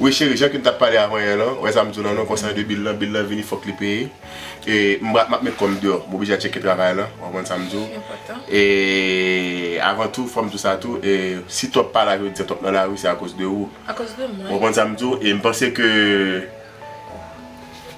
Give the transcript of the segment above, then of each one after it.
Wi cheri jan kem tap pale avan yè lan, wè sam diw lan non konsan de bil lan, bil lan vini fòk li peye e map met kòm deyò m oblije al tcheke travay lan ou konprann sam diw e avan tou fòm diw sa tou e si twòp pala vle di twòp nan lari se akoz de ou ou konprann sam diw e m panse ke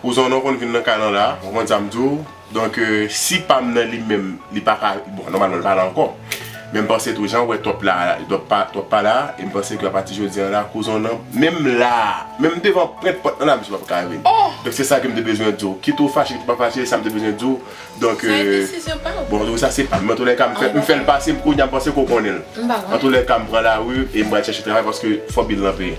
ou zonnon konn vin nan kay lan la ou konprann sam diw. Donk si pam nan li menm li paka bon nòmalman li pa la ankò men m panse tou jan w wè Top la Top pa la e m panse ke apati jodi an la kouzon w nan menm la menm devan prent pòt nan la misye pap ka rive donk se sa ke m te bezwen di w kit ou fache kit ou pa fache se sa m te bezwen di w donk bon tou sa se pam nan toulèka m fè l pase m kounye a m panse ke w konnen l antoulèka m pran lari e m pral chèche travay paske fò bil lan peye.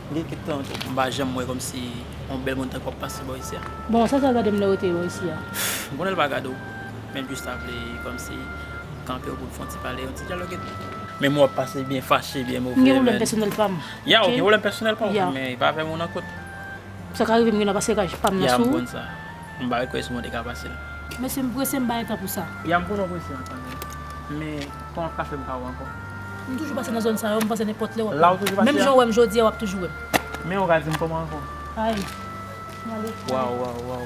Gen kèk tan tou m pa janm wè kòmsi yon bèl moun tankou w ap pase bò isi a. Bon, sa sa gade m lè yo te bò isi a? M konnen l pa gade w, men l jis ta vle kòmsi kanpe w pou n fè yon ti pale, yon ti dyalòg epi. Menm w ap pase byen fache, byen move menn. M gen pwoblèm pèsonèl pa m, ok? Ya, w gen pwoblèm pèsonèl pa w, men e pa avè m ou nan kot. Sa ka rive m gen nan pase kaj pa m nan sou ou. Ya, m konn sa. M pa request mwen te ka pase l. Mesye m prese m bay tan pou sa. Ya m konnen w prese an tanmen. Men tan ap ka fè m pa wè w ankò. M toujou pase nan zòn sa yo m panse nenpòt lè w ap wè m. Menm jan w wè m jodi a w ap toujou wè m. Men ou ka di m kòman ankò. Ay m ale. Waw waw waw.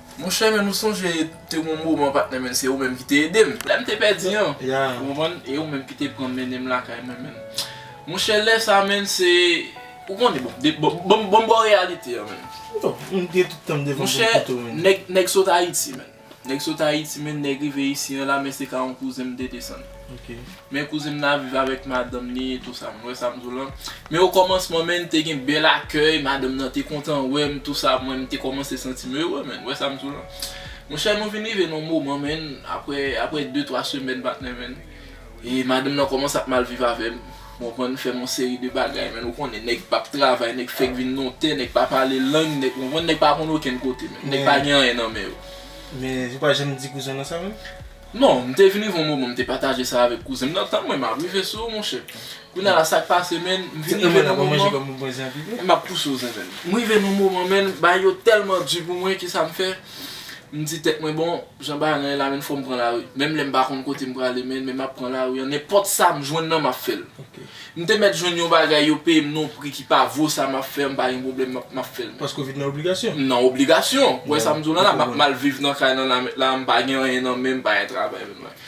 Monchè men nou sonje te gon moman patnè men se ou menm ki te ede m lè m te pèdi an ou konprann e ou menm ki te pran m mennen m lakay mwen men monchè lè sa men se ou konnen bon de bon m ba w reyalite an men monchè nèg sot ayiti men nèg sot ayiti men nèg rive isi an la men se ka yon kouzen m te desann. Men kouzen m nan ap viv avèk madanm li etou sa, mwen wè sa m di w lan. Men okòmansman menn te gen bèl akèy, madanm nan te kontan wè m tou sa, mwen m te kòmanse santi m ere menn, wè sa m di w lan. Monchè nou vin rive nan yon moman menn, aprè aprè de twa semèn patnè menn, e madanm nan kòmanse ap mal viv avè m, ou konprann, m fè m yon seri de bagay menn, ou konnen nèg p ap travay, nèg fèk vin nan yon tè, nèg pa pale lang, nèg, ou konprann, nèg pa konn okenn kote menn, nèg pa gen anyen nan men yo. Men, ou pa janm di kouzen w lan sa menm? Non, m te vini yon moman m te pataje sa avèk kouzen m nan, tann mwen m ap rive sou ou monchè. Kounya la sa k pase menn, m vin rive nan moman, m ap pouse w zen menn. M rive nan moman menn, bagay yo tèlman di pou mwen ki sa m fè, m di tèt mwen bon, jan bagay lan ye la menn fò m pran lari. Menm lè m pa konn kote m prale menn, men m ap pran lari an, nenpòt sa m jwenn nan m ap fè l. M te mèt jwenn yon bagay yo peye m non pri ki pa vo sa map fè m pa gen pwoblèm map map fè l men. Paske w vin nan obligasyon. M nan obligasyon, ou wè sa m di w lan la map mal viv nan kay lan la mèt la m pa gen anyen nan men m pa gen travay menm nan.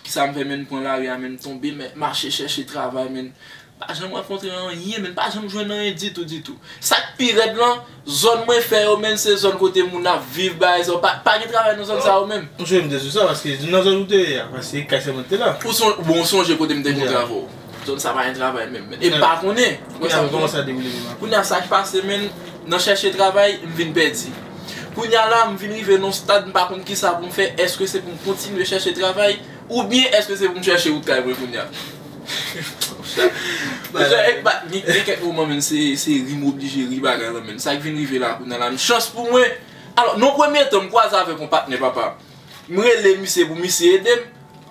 Kisa m fè men m pran lari a men m tonbe men mache chèche travay men m pa janm rankontre anyen men m pa janm jwenn anyen ditou ditou. Sak pi rèd lan. Zòn mwen fè yo menn se zòn kote moun ap viv bagay sa yo pa pa gen travay nan zòn sa yo menm. Msonje mte sou sa paske nan zòn ou te ye a paske kay sèlman ki te la. Ou son bon ou sonje kote mte konn travo. Zòn sa pa gen travay menm menn e mpa konnen. Kounye a koman sa dewoule menm aprè. Kounye a sak pase menn nan chèche travay mvin pèdi. Kounye a la mvin rive nan yon stad mpa konn kisa poum fè èske se poum kontinye chèche travay oubyen èske se poum chèche wout kay mwen kounye a. Gen kèk moman men se ri m oblije ri bagay lan men. Sa k vin rive la kounya la m chans pou mwen. Alò nan yon premye tan m kwaze avèk yon patnè papa. M rele misye pou misye ede m.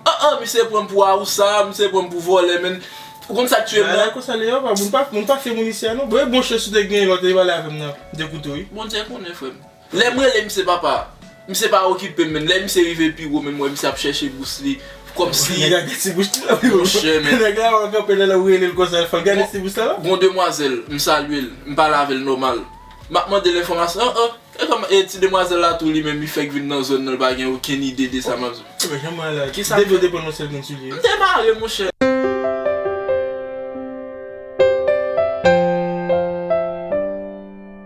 An an misye pran m pou awousa, misye pran m pou vòlè men. Ou konn sa k tuye m nan? Bagay konsa li ye papa. Moun pa fè moun isi a non. Bon e bon chans ou te genyen lè w te pale avè m nan de kouto wi. Bondye konnen frè m. Lèm rele misye papa, misye pa okipem menm, lè misye rive pi wo menm wè misye ap chèche bous li, kòmsi, Nèg la gen ti bouch tou wi bro, Monchè men. nèg la wè kanpe lèw relel konsa fòl gade ti bouch la non. Gon demwazèl, m salyel, m pale avèl nòmal, map mandel enfòmasyon, an an, e kòman, e ti demwazèl la tou li menm li fèk vin nan zòn nan li pa gen okenn ide de sa map di. Ou wè jan mwen ala, Kisa depiw fè? te pran yon sèl grenn soulye. M te mare monchè.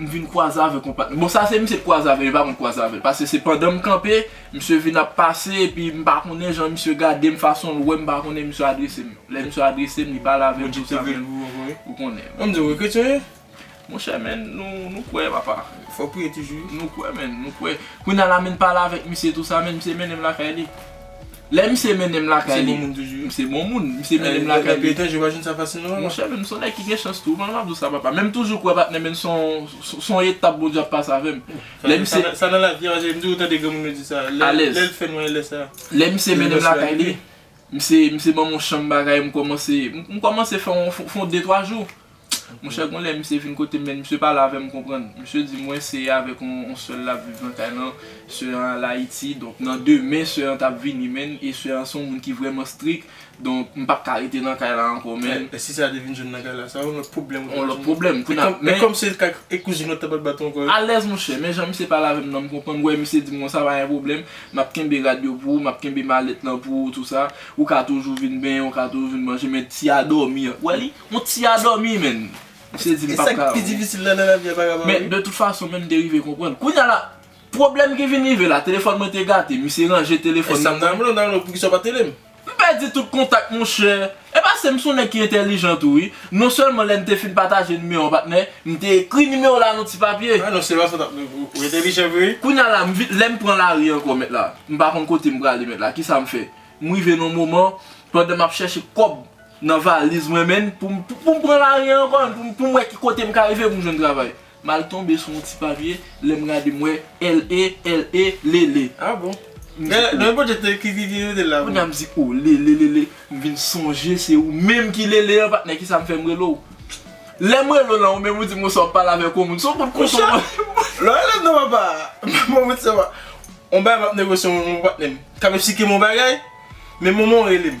M vin kwaze avèk yon patnè. Bon sa se misye t kwaze avèl, li pa konn kwaze avèl. Pase se pandan m kanpe, misye vin ap pase epi m pa konnen jan misye gadem, fason l wèm m pa konnen misye adresem. Lè misye adresem li pale avèm tout sa men ou konnen. An diw ou kretyen wi? Monchè men nou kwè papa. Fòw priye toujou wi. Nou kwè men, nou kwè. Kounya la menn pale avèk misye tout sa men misye mennenm lakay li. Lè misye mennenm lakay li, misye bon moun, misye mennenm lakay li. Monchè men m son nèg ki gen chans tou, kòman m ap di w sa papa? Men m toujou kwè patnè men son etap Bondye ap pase avè m. Lè misye. Sa nan lavi a, m toujou tande granmoun yo di sa. Alèz. Lè l fè nwè lè sa. Lè misye mennenm lakay li, misye banm yon chanm bagay m kòmanse, m kòmanse fè yon fon de twa jou. Monchè gon lè misye vin kotem men misye pale avèm mkonprann misye di mwen se avèk yon sè lap viv nan kay lan sè an al ayiti donk nan demen sè an tap vini menn e sè an se yon moun ki vrèman strik donk mpap ka rete nan kay la ankò menn. E si sa te vin jwenn nan kay la sa yon lòt pwoblèm ou tap jwenn nan kay la men kòm se kay e kouzin ou tap al bat ankò yo. Alèz monchè men jan misye pale avèm nan mkonprann wè misye dim konsa pa gen pwoblèm map kenbe rad yo pou ou map kenbe malèt lan pou ou tou sa ou ka toujou vin benyen ou ka toujou vin manje men ti a dòmi an wè li On ti a domi menn. Misye di li pap ka. Esak pi difisil nan lavi a pa ka pa ri. Men de tout fason menm te rive konprann. Kounya la pwoblèm ki vin rive la telefòn mwen te gate misye ranje telefòn nan. Esam ta renmen nan nou poukisa ou pat edem. M pèdi tout kontak monchè. E pasem m son nèg ki entèlijan tou wi. Non sèlman lèn te fin pataje nimewo an patnè m te ekri nimewo la nan ti papye. Ah non se pa sa tap rive ou entèlijan vre wi. Kounya la m vin lèm pran lari ankò mèt la m pa konn kotem prale mèt la kisam fè. M rive nan moman pandan map chèche kòb. nan valiz mwen men pou m pran lari ankò pou m wè ki kote m ka rive pou m jwenn travay m al tonbe sou yon ti papye lè m gade m wè LE LE lele ah bon m di oh men Bondye te ki ki mete l la kounye a m di oh lele lele m vin sonje se ou menm ki lele an patnè kisa m fè m rele w lè m rele w lan ou menm ou di m bonswa w p pale avèk yon moun se yon kout kouto m wè lè w rele m nan papa mwen m di se pa yon bagay m ap negosye mwen menm ak patnè m k ap esplike m yon bagay men moman w rele m.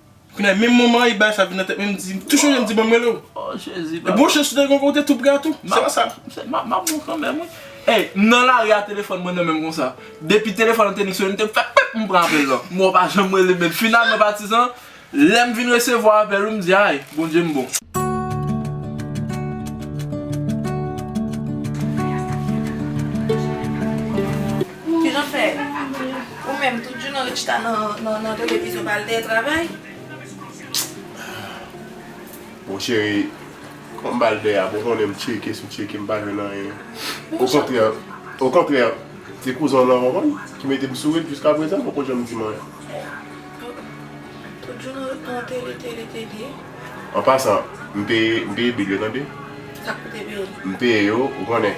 Kounya menm moman e bagay sa vin nan tèt mwen mdi tou chonje mdi banm relew. Oh jezi papa. Epi ou chanje gen yon kote tou pre a tou se pa sa. Map map bon kanmenm wi. Ey m nan lari a telefòn mwen nan menm konsa. Depi telefòn an te nik sone m te fè pip m pran apèl lan. M wè w pa janm relem men finalman patizan lèm vin resevwa apèl ou m di ay Bondye m bon. Kijan fè ou menm tout jounen w chita nan televizyon pa al travay? Bon cheri, fò m bal dèyè pou w konnen m tcheke sou tcheke m pa jwenn anyen. Okontrè, okontrè, se kouzen w lan w konn ki mete m souri jiskaprezan poko janm di m anyen. Tout jounen w ret nan tele, tele, tele. An pasan, m peye, m peye bil yo tande. Sa k pou te peye? M peye yo, ou konnen.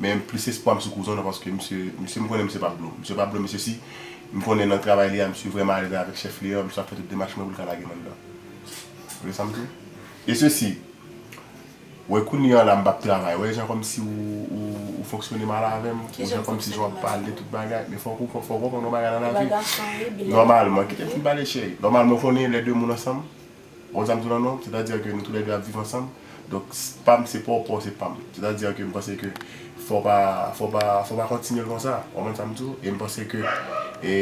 Men m plis espwa m sou kouzon an paske misye misye m konnen misye pap dlo. Misye pap dlo mesye si m konnen nan travay li a misye vrèman alèz avèk chèf li an misye ap fè tout demach mwen pou l ka lage m anndan. Ou vle sa m di w? E sesi wè kounye an la m pap travay wè jan kòmsi ou ou fonksyone mal avè m ou jan kòmsi jan w ap pale tout bagay men fòk ou fòk ou konprann yon bagay nan lavi nòmalman kite m fin pale cheri nòmalman ou konnen lè de moun ansanm Bon sa m di w la non, sètadi a ke nou tou lè 2 ap viv ansanm, donk pa m se pa w, pa w se pa m. Sètadi a ke m panse ke fò w pa, fò w pa, fò w pa kontinye l konsa, w konprann sa m di w, e m panse ke e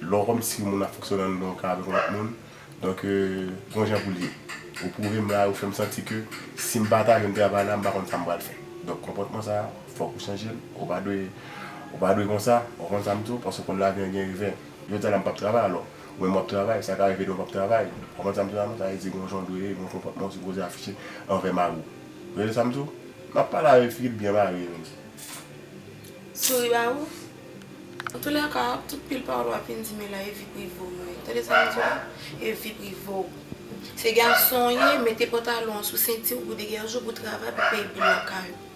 lè w kòm si moun ap fonksyone anndan yon ka avèk yon lòt moun, donk gon jan pou l ye. Ou pwouve m la, ou fè m santi ke si m pa ta jwenn travay la m pa konn sa m pral fè. Donk konpòtman sa a, fòk ou chanje l, ou pa dwe, ou pa dwe konsa, w konprann sa m di w, paske w konn lavi an gen revè. Jodi a la m pa p travay alò. Ou menm w ap travay, sa ka rive tou w pa p travay. Konprann sa m di w la non? Sa vle di gen yon jan w dwe ye, gen yon konpòtman ou sipoze afiche anvè mari w. Ou tande sa m di w? M ap pale avè fi ki t byen marye menm. Souri ba ou? Antoulèka, tout pil pawòl w ap vin di men la e vi prive w mwen. Tande sa m di w la? E vi prive w. Se gason w ye, mete pantalon an sou senti w pou degèje w pou travay pou peye bil lakay ou.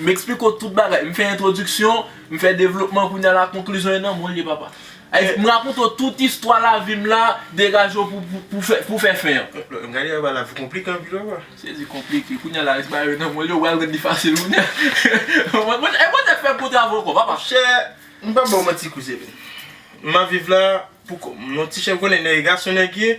M eksplike w tout bagay. M fè entwodiksyon, m fè devlopman, kounye a la konklizyon e nan men w ye papa. M rakonte w tout istwa lavi m la, degaje w pou w fè fen an. M gade papa lavi w konplike anpil papa. Sezi konplike, kounye a la res bagay yo nan men w yo, ou pral jwenn li fasil kounye a. E Bondye fè bon travay ankò papa. Chè, m pap ba w manti kouzen m. M ap viv la pou kò m. M yon ti chè m konnen nèg e gason nèg ye.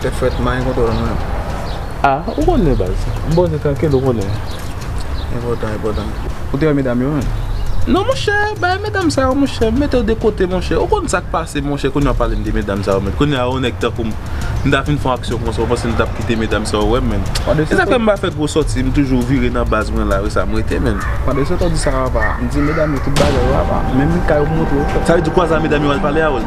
Tèt frèt man gen kontwòl mwen. Ah ou konnen baz. M poze trankil ou konnen. Enpòtan enpòtan. Ou te wè medam yo menm? Non monchè bagay medam sa yo monchè m mete yo de kote monchè ou konn sak pase monchè kounya wap pale m de medam sa yo menm kounya yon nèg tankou m m ta fin fon aksyon konsa ou panse m tap kite medam sa yo wè m menm e sa fè m pa fè gwo sòti m toujou vire nan baz mwen la resa m rete menm. Pwal de sòt ou di sa apa m di medam yo tout bagay yo apa menm mikay ou m montre w. Sa vle di kwaza medam yo al pale avèl.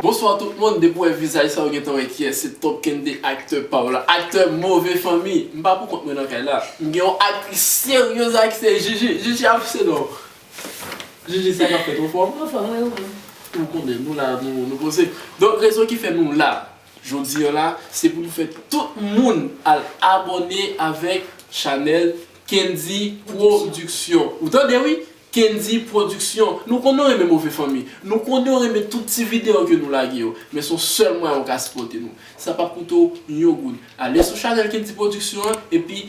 Bonsoir tout moun depi ou wè vizaj sa ou gentan wè kiyès se Top Kende acteur pa ou la acteur move fanmi m pa pou kont mwen nan kay la m gen yon actrice serieuse la ki se Jiji Jiji ap fse non Jiji sa kap fèt ou fò? Mwen fò mwen ou menm? Ou konnen nou la nou poze donk rezon ki fè nou la Jodi an la se pou nou fè tout moun al abòne avèk chanèl kendy production ou tande wi kendy production nou konnen w renmen move fanmi nou konnen w renmen tout ti video ke nou lage yo men son sèl mwayen ou ka sipòte nou sa pap koute w yon goud ale sou chanèl kendy production an epi